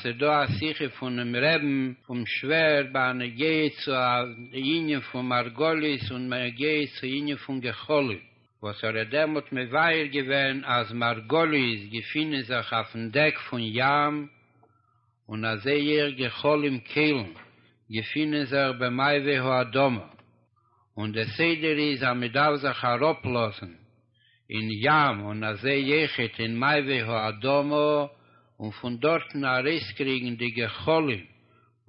ס'איז דא א שיחה פונעם רעבן פון שווער בנוגע צו א ענין פון מרגלית און בנוגע צו ענין פון גחלים, וואס ער האט דעמאלט מבאר געווען אז מרגלית געפינען זיך אויפן דעק פון ים, און אזוי אויך גחלים כלים געפינען זיך במעבה האדמה, און די סדר איז אז מ'דארף זיך אראפלאזן אין ים און א זי יחוד אין מעבי האדמה און פון דארטן ארויסקריגן די גחלים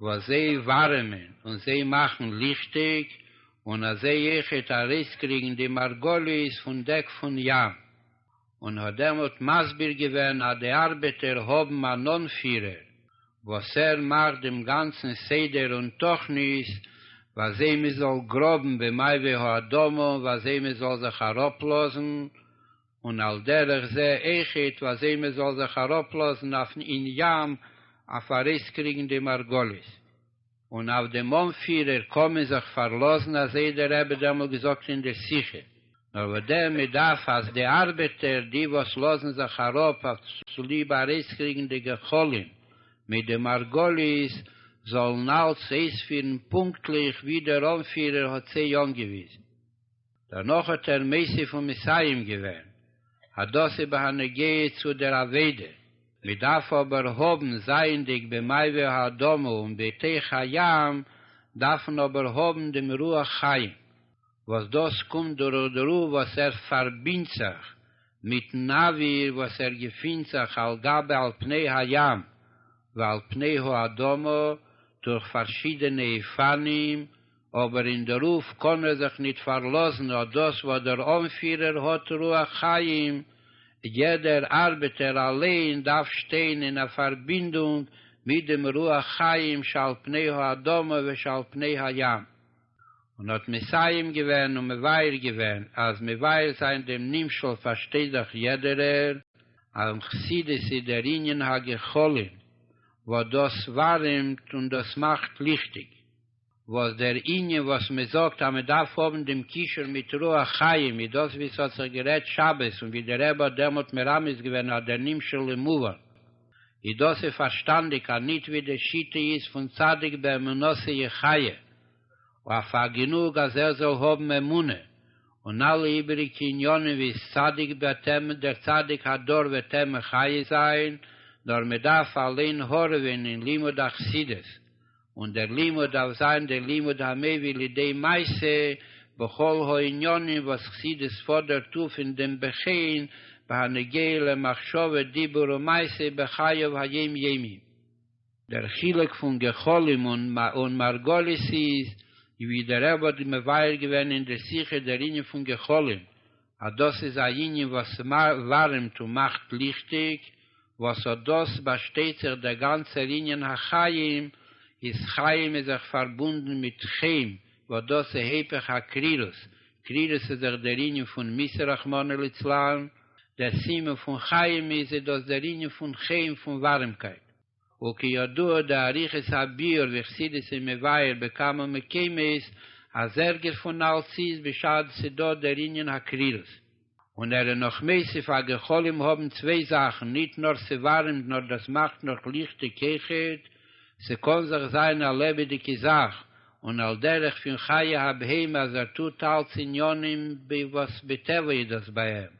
וואס זיי ווארעמען און זיי מאכן ליכטיג און א זי יחוד ארויסקריגן די מרגליות פון דעק פון ים און האט דעמאלט מסביר געווען אז די ארבעטער האבן אן אנפירער וואס ער מאכט דעם גאנצן סדר און תוכנית וויאזוי מען זאל גראבן במעבה האדמה און וויאזוי מען זאל זיך אראפלאזן, און על דרך זה אויכעט וויאזוי מען זאל זיך אראפלאזן אויפן אין ים אויף ארויסקריגן די מרגלית. און אויף דעם אנפירער קען מען זיך פארלאזן אזוי דער רבי האט דעמאלט געזאגט אין דער שיחה, נאר וואדער מען דארף אז די ארבעטער די וואס לאזן זיך אראפ אויף צוליב ארויסקריגן די גחלים מיט די מרגלית זאלן אלץ אויספירן פונקטליך ווי דער אנפירער האט זיי אנגעוויזן. דערנאך האט ער מוסיף ומסיים געווען, הדאס איז בהנוגע צו דער אבידה, מען דארף אבער האבן, זייענדיג במעבר האדמה און בתוך הים, דארף מען אבער האבן דעם רוח חיים, וואס דאס קומט דורך דער רוח וואס ער פארבינדט זיך מיטן אוויר וואס ער געפינט זיך על גבי על פני הים ועל פני האדמה דורך פארשידענע אופנים אבער אין דערויף קען ער זיך ניט פארלאזן אט דאס וואס דער אנפירער האט רוח חיים, יעדער ארבעטער אליין דארף שטיין אין א פארבינדונג מיט דעם רוח חיים שעל פני האדמה ושעל פני הים, און האט מסיים געווען און מבאר געווען אז מבאר זיין דעם נמשל פארשטייט דאך יעדערער אז אין חסידות איז דער ענין הגחלין וואס דאס ווארעמט און דאס מאכט ליכטיג. וואס דער ענין וואס מען זאגט אז מען דארף האבן דעם קישור מיט רוח חיים איז דאס ווי ס'האט זיך גערעדט שבת און ווי דער רבי האט דעמאלט מרמז געווען אז דער נמשל למובן איז דאס איז פארשטאנדיג אז נישט ווי די שיטה איז פון צדיק באמונתו יחיה אויף א גענוג אז ער זאל האבן אמונה און אלע איבעריגע עניינים ווי איז צדיק וועט ער דער צדיק הדור וועט ער מחיה זיין נאר מען דארף אליין הארעווען אין לימוד החסידות און דער לימוד דארף זיין דער לימוד המביא לידי מעשה בכל הענינים וואס חסידות פאדערט אויף אין דעם בחין בהנוגע למחשבה דיבור ומעשה בחייו היום יומי. דער חילוק פון גחלים און מרגלית איז, ווי דער רבי האט מבאר געווען אין דער שיחה דער ענין פון גחלים, אז דאס איז א יענין וואס ווארעמט און מאכט ליכטיג, וואס אט דאס באשטייט זיך דער גאנצער ענין החיים, איז חיים איז זיך פארבונדן מיט חן, וואס דאס איז היפך הקרירות, קרירות איז זיך דער ענין פון מיתה רחמנא ליצלן, דער סימן פון חיים איז איז דאס דער ענין פון חן פון ווארעמקייט. וכידוע דאריכות הביאור וחסידות איז מבאר בכמה מקומות אז ערגער פון אלס איז בשעת ס'דא דער ענין הקרירות און ער איז נאך מוסיף א גחלים האבן צוויי זאכן ניט נאר ס'ווארעמט נאר דאס מאכט נאך ליכטיג כאחד ס'קאן זיך זיין א לעבעדיגע זאך און על דרך פין חיי הבהמה אז ער טוט אלס עניינים וואס בטבע איז דאס ביי אים.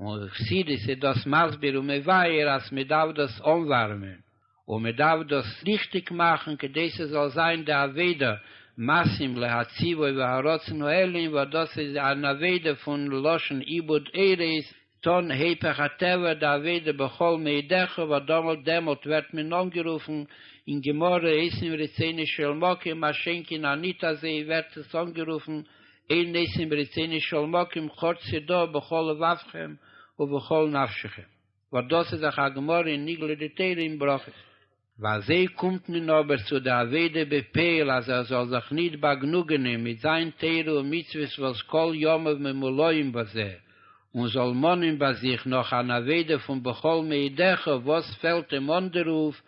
און חסידות איז דאס מסביר און מבאר אז מען דארף דאס אנווארעמען און מען דארף דאס ליכטיג מאכן כדי ס'זאל זיין די אבידה מעשים להציבו והרצון העליון וואס דאס איז אן אבידה פון לשון עיבוד ערות טון היפך הטבע די אבידה בכל מאידיך וואס דאמאלט דעמאלט ווערט מען אנגערופן אין גמרא עשרים רצונות של מקום מה שאין כן אניטא זי ווערט עס אנגערופן אין נעשים ברצונו של מקום חוץ ס'דא בכל לבבכם ובכל נפשכם וואס דאס איז אויך א גמרא אין נגלה דתורה אין ברכות. ואזוי קומט מען אבער צו די עבודה בפועל אז ער זאל זיך ניט באגנוגענען מיט זיין תורה ומצוות וואס כל ימיו ממולאים בזה, און זאל מאנען ביי זיך נאך אן אבידה פון בכל מאידך וואס פעלט אים אן די רוף,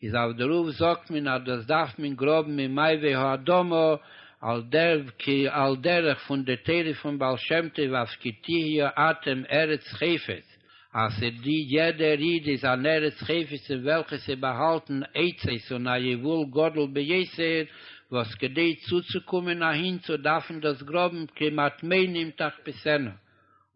איז אויף די רוף זאגט מען אז דאס דארף מען גראבן אין מעיבי האדמה על דרך כ א על דרך פון די תורה פון בעל שם טוב אויף כי תהיה אתם ארץ חפץ, אז די יעדע ריד איז אן ארץ חפץ אין וועלכע ס'איז באהאלטן עצות און א יבול גדול ביותר, וואס כדי צוצוקומען אהין צו דארפן דאס גראבן כמעט מעינים תחפשנה, און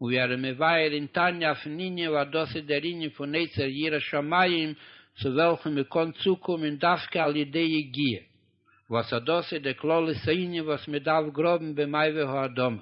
ווי אר'ן מבאר אין תניא אויפן ענין ווייל דאס איז דער ענין פון עצה יראת שמים צו וועלכן מ'קען צוקומען דווקא על ידי יגיעה, וואס אט דאס איז דער כללות הענין וואס מ'דארף גראבן במעבה האדמה.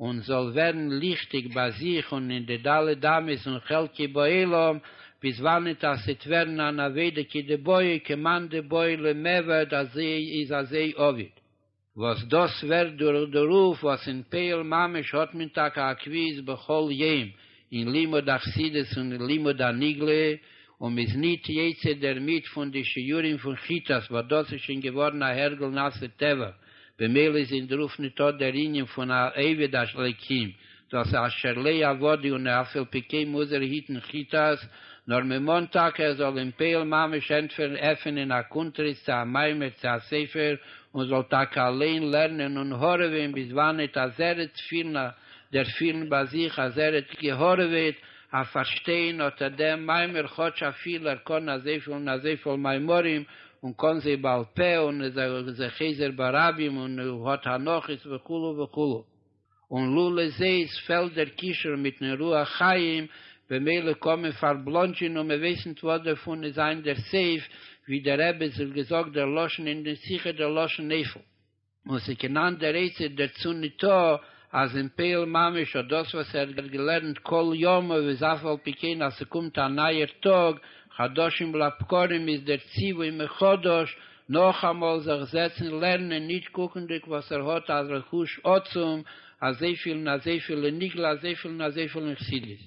און זאל ווערן ליכטיג ביי זיך און אין די ד' אמות און חלקי בעולם, ביז וואנעט אז ס'עט ווערן אן אבידה כי דבעי כמאן דבעי למעביד אז איז אזי עביד. וואס דאס ווערט דורך דערויף וואס אין פעיל ממש האט מען טאקע א קביעות בכל יום אין לימוד החסידות און אין לימוד הנגלה, און מ'איז ניט יצא דערמיט פון די שיעורים פון כיתות וואס דאס איז שוין געווארן א הרגל נעשה טבע, במילא איז אין דרוף ניטא דער ענין פון א עבד אש אלקים, דאס אשר ל ע עבדי און אף על פי כן מוז ער היטן כיתות, נאר מען מאנט טאקע ער זאל אין פועל ממש ענטפערן עפענען א קונטרס צו א מיימר צו א ספר און זאל טאקע אליין לערנען און הארעווען ביז וואנעט אז ער עט פילן א דערפילן ביי זיך אז ער עט געהארעוועט אויף פארשטיין אט דעם מיימר כאטש אפילו ער קאן אזויפיל און אזויפיל מיימרים און קאן זיי בעל פה און איז אויך זיי חוזר ברבים און האט הנחות וכו' וכו' און לולא זאת פעלט דער קישור מיטן רוח חיים במילא קאן מען פארבלאנדזשען און מען ווייס ניט וואס דערפון איז זיין דער סעיף ווי דער רבי זאל געזאגט דער לשון אין די שיחה דער לשון נפל און ס'קיין אנדער עצה דערצו ניטא, אז אין פעיל ממש האט דאס וואס ער האט געלערנט כל ימיו איז אף על פי כן אז ס'קומט א נייער טאג, חדשים לבקרים איז דער ציווי מחדש, נאכאמאל זיך זעצן לערנען ניט קוקנדיג וואס ער האט א רכוש עצום, אזויפיל און אזויפיל אין נגלה אזויפיל און אזויפיל אין חסידות.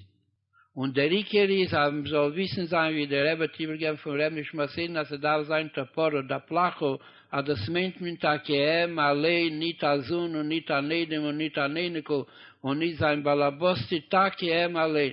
און דער עיקר איז אז מען זאל וויסן זיין ווי דער רבי האט איבערגעגעבן פון ר' נשמתינו אז ס'דארף זיין תפארת דפלחא אז דאס מיינט מען טאקע אים אליין ניט א זון און ניט אן איידעם און ניט אן אייניקל און ניט זיין באלעבאסטע טאקע אים אליין.